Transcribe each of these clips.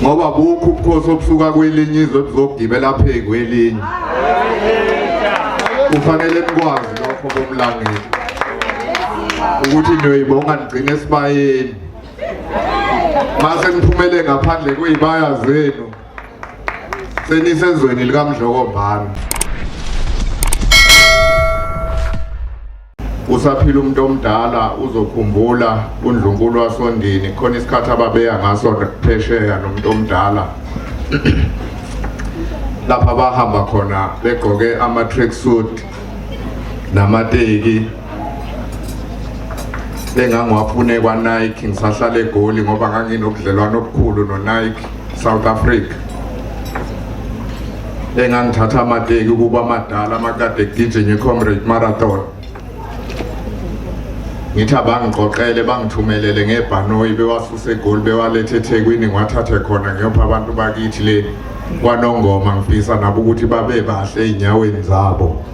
ngoba bukho ubukhosi obusuka kwelinye izwe buzogibela phezu kwelinye kufanele nikwazi lokho bomlangeli ukuthi niyoyibonga nigcine esibayeni mase niphumele ngaphandle kuyibaya zenu senisezweni likamdlokombani usaphila umuntu omdala uzokhumbula undlunkulu wasondini khona isikhathi ababeya ngaso phesheya nomuntu omdala lapha bahamba khona begqoke ama-track suit namateki engangiwafune kwa-nike ngisahlala egoli ngoba nganginobudlelwane obukhulu no-nike south africa engangithatha amateki ukuba amadala amakade ekugijinye i-comrade marathon ngithi abangiqoqele bangithumelele ngebhanoyi bewasuse egoli bewalethe ethekwini ngiwathathe khona ngiyopha abantu bakithi le kwanongoma ngifisa nabo ukuthi babe bahle ey'nyaweni zabo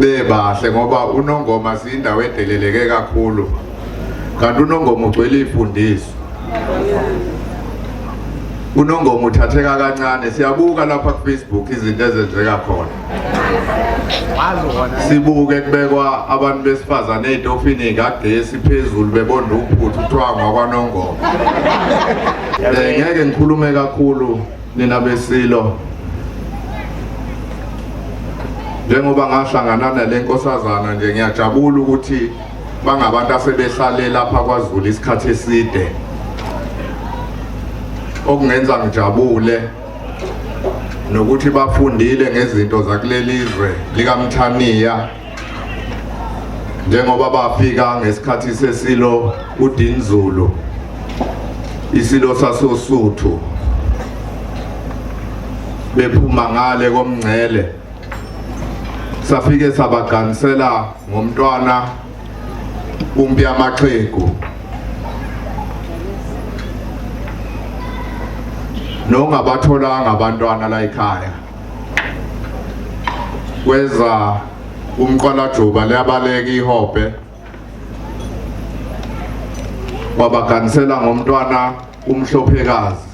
bebahle ngoba unongoma siyindawo edeleleke kakhulu kanti unongoma ugcwele ifundiso unongoma uthatheka kancane siyabuka lapha ku Facebook izinto ezenzeka khona sibuke kubekwa abantu besifazane ezitofini kagesi phezulu bebonda uphuthu kuthiwa ngwakwanongoma eh, ngeke ngikhulume kakhulu Nina besilo njengoba ngahlangana nale nkosazana nje ngiyajabula ukuthi bangabantu asebehlale lapha kwaZulu isikhathi eside okungenza ngijabule nokuthi bafundile ngezinto zakulelizwe likamthaniya njengoba bafika ngesikhathi sesilo uDinzulu isilo sasosuthu bephuma ngale komngcele safike sabaganisela ngomntwana umpi amaxhegu nongabatholanga abantwana la ekhaya kweza umqwalajuba liyabaleka ihobhe wabaganisela ngomntwana umhlophekazi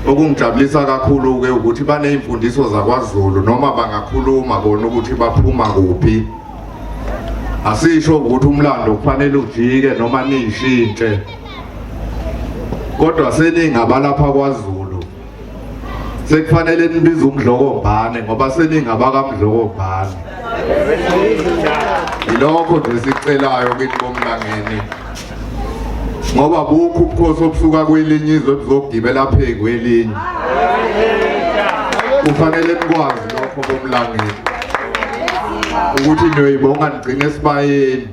okungijabulisa kakhulu-ke ukuthi baney'mfundiso zakwazulu noma bangakhuluma bona ukuthi baphuma kuphi asisho ukuthi umlando kufanele ujike noma niyishintshe kodwa seningabalapha kwazulu sekufanele nibize umdlokombane ngoba seningabakamdlokombane yilokho nje sicelayo kithi bomlangeni ngoba bukho ubukhosi obusuka kwelinye izwe buzogibela phezu kwelinye kufanele nikwazi lokho bomlangeni ukuthi niyoyibonga nigcine esibayeni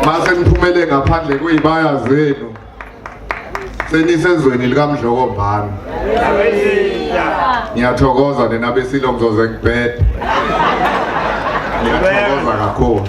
mase niphumele ngaphandle kweyibaya zenu senisezweni likamdloko mbani ngiyathokoza nina besilo ngizoze ngibhede ngiyathokoza kakhulu